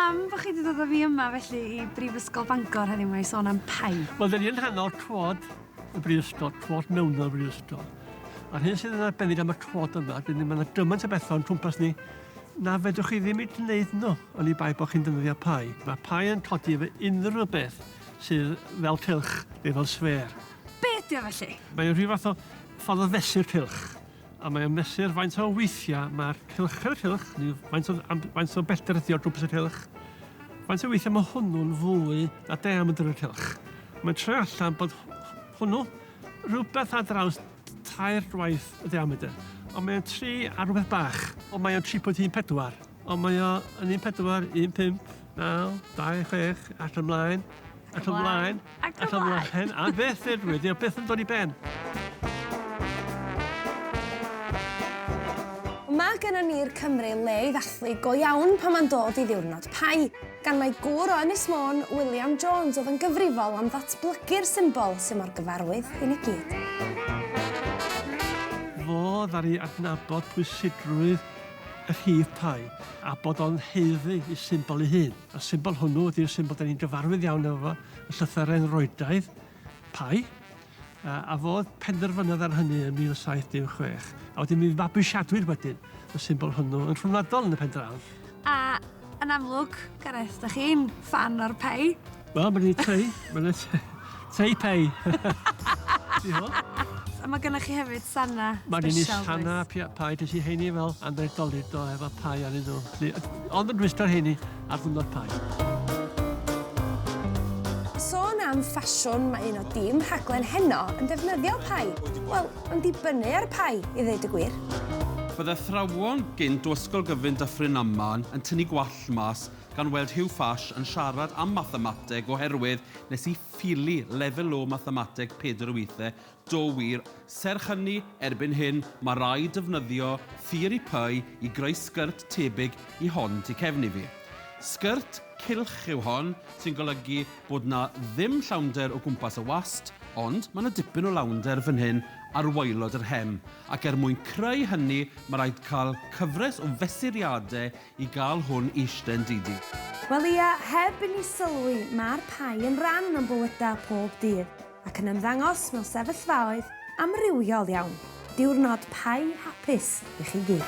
pam bod chi wedi dod â fi yma felly i Brifysgol Bangor heddiw mae sôn am pai? Wel, dyn ni'n rhan o'r cwod y Brifysgol, cwod mewn o'r Brifysgol. A'r hyn sydd yn arbennig am y cwod yma, dyn ni'n mynd gymaint o bethau o'n cwmpas ni, na fedrwch chi ddim i gwneud nhw, ond i bai bod chi'n defnyddio pai. Mae pai yn codi efo unrhyw beth. sydd fel cylch neu fel sfêr. Be ydy o felly? Mae'n rhyw fath o ffordd o fesur cylch a mae'n mesur faint o weithiau mae'r cylch yn y cylch, neu faint o, faint o bellter ydi o'r gwmpas y cylch, faint o weithiau mae hwnnw'n fwy na diameter y cylch. Mae'n troi allan bod hwnnw rhywbeth ar draws tair gwaith y diameter. Ond mae o'n 3 a rhywbeth bach. Ond mae o'n 3.14. Ond mae o'n 1.4, 1.5, Naw, dau, chwech, at ymlaen, at ymlaen, at ymlaen, a beth fe dwi, dwi beth yn dod i ben. Mae gen i ni'r Cymru le i ddathlu go iawn pan mae'n dod i ddiwrnod Pai, gan mae gŵr o Ynys Môn, William Jones, oedd yn gyfrifol am ddatblygu'r symbol sy'n mor gyfarwydd i ni gyd. Fo ddaru adnabod pwysigrwydd y rhif pi, a bod o'n haeddu ei symbol ei hun. Y symbol hwnnw ydy'r symbol da ni'n gyfarwydd iawn efo fo yn llythyren Roydaidd, pi, a, a fodd penderfynodd ar hynny yn 1716. A wedyn mi fabwysiadwyd wedyn y symbol hwnnw yn rhyngwladol yn y pen draw. A Yn amlwg, Gareth, da chi'n fan o'r pei. Wel, mae'n ei tei. Mae'n ei tei. Tei pei. A mae gennych chi hefyd sanna special. Mae'n ei sanna pai. Dys i heini fel Andrei Dolido efo pai ar ei nhw. Ond yn rhwysto'r heini ar ddwrnod pai am ffasiwn, mae un o dîm rhaglen heno yn defnyddio pai. Wel, Yn dibynnu ar y pai, i ddeud y gwir. Bydd athrawon gynt o Ysgol Gyfun Dyffryn Aman yn tynnu gwallt mas gan weld Huw Fash yn siarad am mathemateg oherwydd nes i Phili Lefel Low Mathemateg Pedr Wythe do wir, serch hynny, erbyn hyn, mae raid defnyddio theori pai i greu sgyrtt tebyg i hon tu cefn i fi. Sgyrtt? Cylch yw hon, sy'n golygu bod 'na ddim llawnder o gwmpas y wast, ond mae 'na dipyn o lawnder fan hyn ar waelod yr hem, ac er mwyn creu hynny mae rhaid cael cyfres o fesuriadau i gael hwn i ishten didi. Wel ia, heb i ni sylwi, mae'r pie yn ran o'n bywydau pob dydd, ac yn ymddangos mewn sefyllfaoedd amrywiol iawn. Diwrnod pie hapus i chi gyd.